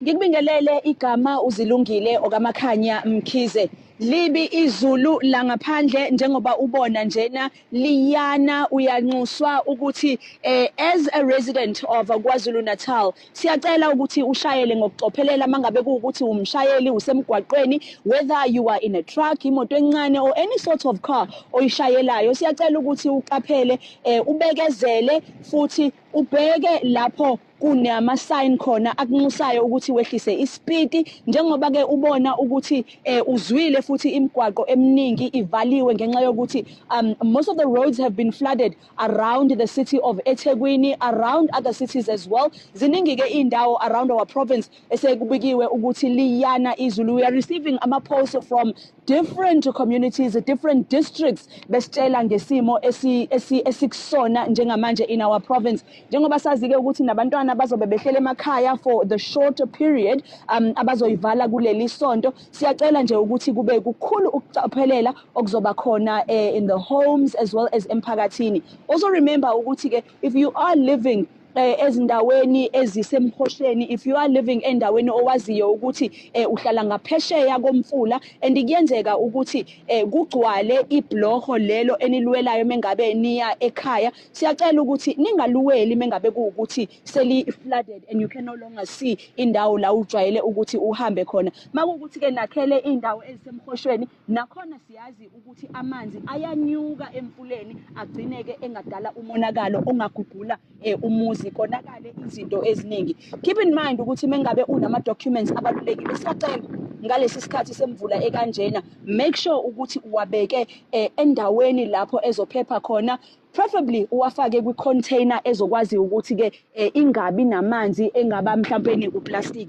Ngikubingelele igama uZilungile okaMakhanya Mkhize. Libi izulu langaphandle njengoba ubona njena liyana uyanxuswa ukuthi eh, as a resident of KwaZulu Natal siyacela ukuthi ushayele ngokucophelela mangabe kuwukuthi umshayeli usemgwaqweni whether you are in a truck imoto encane or any sort of car oyishayelayo siyacela ukuthi uqaphele eh, ubekezele futhi ubheke lapho kunama sign khona akunxusayo ukuthi wehlise isipiti njengoba ke ubona ukuthi eh, uzwile futhi imigwaqo eminingi ivaliwe ngenxa yokuthi um, most of the roads have been flooded around the city of eThekwini around other cities as well ziningi ke indawo around our province esekubikiwe ukuthi liyana izulu we are receiving ama posts from different communities different districts besitshela ngesimo esikusona njengamanje in our province njengoba sazike ukuthi nabantwana bazobe behlele emakhaya for the short period um abazoyivala kuleli sonto siyacela nje ukuthi kube kukhulu ukucaphelela okuzoba khona eh, in the homes as well as emphakathini also remember ukuthi ke if you are living eh, ezindaweni ezisemkhohleni if you are living endaweni owaziyo ukuthi eh, uhlala ngaphesheya komfula and kuyenzeka ukuthi eh, kugcwale ibloho lelo enilwelayo mengabe niya ekhaya siyacela ukuthi ningaluweli mengabe kuwukuthi seli flooded and you can no longer see indawo la ujwayele ukuthi uhambe khona makuwukuthi ke nakhele indawo ezisemkhoshweni Nakhona siyazi ukuthi amanzi ayanyuka emfuleni agcineke engadala umonakalo ongagugula eh, umuzi konakale izinto eziningi. Keep in mind ukuthi mengabe unama documents abalulekile siyacela ngalesi sikhathi semvula ekanjena make sure ukuthi uwabeke eh, endaweni lapho ezophepha khona preferably uwafake kwi container ezokwazi ukuthi ke eh, ingabi namanzi engaba mhlawumbe nekuplastic